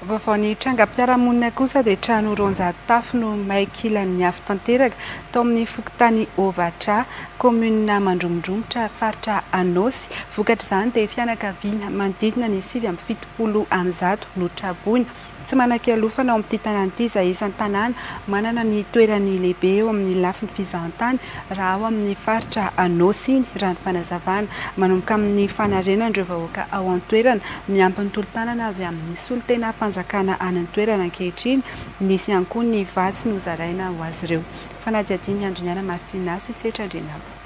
Vaovao ny trangam-piarahamonina kosa dia trano roanjato tafo no may kilan'ny afo tanteraka tao amin'ny fokontany Ovatra, kaominina Mandromondromotra, faritra Anôsy. Vokatr'izany dia fianakaviana manodidina ny sivy amby fitopolo amby zato no traboina. Tsy manan-kialofana ao amin'ity tanàna ity izay isan'ny tanàna manana ny toerany lehibe eo amin'ny lafiny fizahantany raha ao amin'ny faritra Anôsy iny, raha ny fanazavana. Manomboka amin'ny fanarenana ireo vahoaka ao an-toerana, miampy ny tolo-tanana avy amin'ny solontenam-panjakana any an-toerana ankehitriny. Nisy ihany koa ny vatsy nozaraina ho azy ireo. Fanadihadian'i Andoniana Martina sy Setra Andrianabo.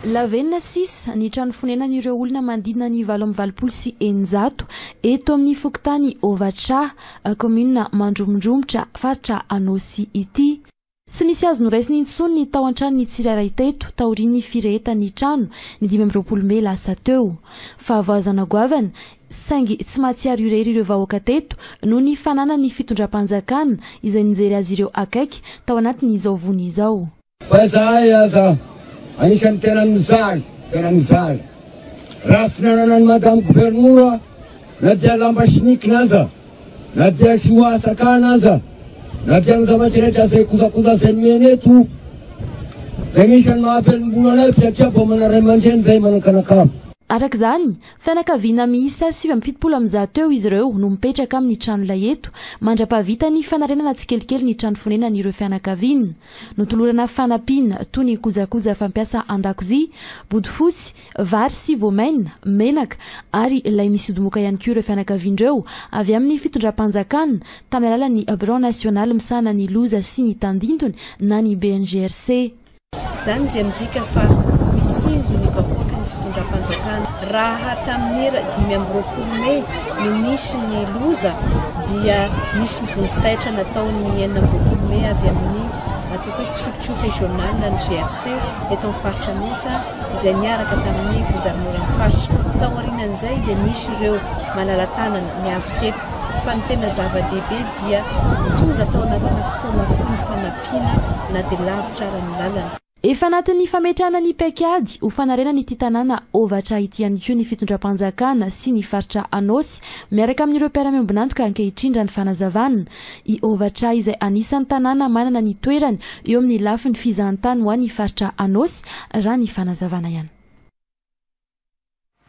Lavenona sisa ny trano fonenan'ireo olona manodidina ny valo amby valopolo sy eninjato eto amin'ny fokontany Ovatrà, kaominina Mandromondromotra, faritra Anôsy ity. Tsy nisy azo noraisina intsony ny tao an-tranon'ny tsirairay teto taorian'ny firehetan'ny trano ny dimy amby roapolo mey lasa teo. Fahavoazana goavana, saingy tsy mahatsiaro irery ireo vahoaka teto noho ny fananan'ny fitondram-panjakana izay nijery azy ireo akaiky tao anatin'izao vony izao. Fa izahay aza anisan'ny tena mijaly, tena mijaly. Raha tsy nananan'i Madame Governora na dia lamba sinikina aza Na dia tsy ho ahasakana aza, na dia ny zavatra rehetra izay kojakoja izay nomena eto, dia anisan'ny maha-mpialom-bola anay satria mba manana ray aman-dreny izahay manan-kanakava. Araka izany, fianakaviana miisa sivy amby fitopolo amin'ny zato eo izy ireo no mipetraka amin'ny tranolay eto, mandra-pahavita ny fanarenana tsikelikely ny trano fonenan'ireo fianakaviana. Notolorana fanampiana toy ny kojakoja fampiasa an-dakozia, bodofotsy, vary sy voamaina, menaka ary lay misodomoka ihany koa ireo fianakaviana ireo avy amin'ny fitondram-panjakana tamin'ny alalan'ny Birao nasionaly misahana ny loza sy ny tandindony na ny BNGRC. Izany dia midika fa mitsinjo ny vahoaka ny fitondram-panjakana. Raha tamin'ny ra dimy amby roapolo mey no nisy ny loza dia nisy ny vonjy taitra nataon'ny enina amby roapolo mey avy amin'ny atao hoe structure régionale ny GRC eto amin'ny faritra Anosy. izay niaraka tamin'ny governoran'ny faritra. Taorianan'izay dia nisy ireo malala-tanana ny avy teto fa ny tena zava-dehibe dia tonga tao anatina fotoana fohy ny fanampiana na dia lavitra ara ny lalana. Efa anatin'ny fametrahana ny paikady ho fanarenana ity tanàna ovatra ity ihany koa ny fitondram-panjakana sy ny faritra Anôsy miaraka amin'ireo mpiara-miombon'antoka ankehitriny raha ny fanazavana. i Ovatra izay anisan'ny tanàna manana ny toerany eo amin'ny lafiny fizahantany ho an'ny faritra Anôsy, raha ny fanazavana ihany.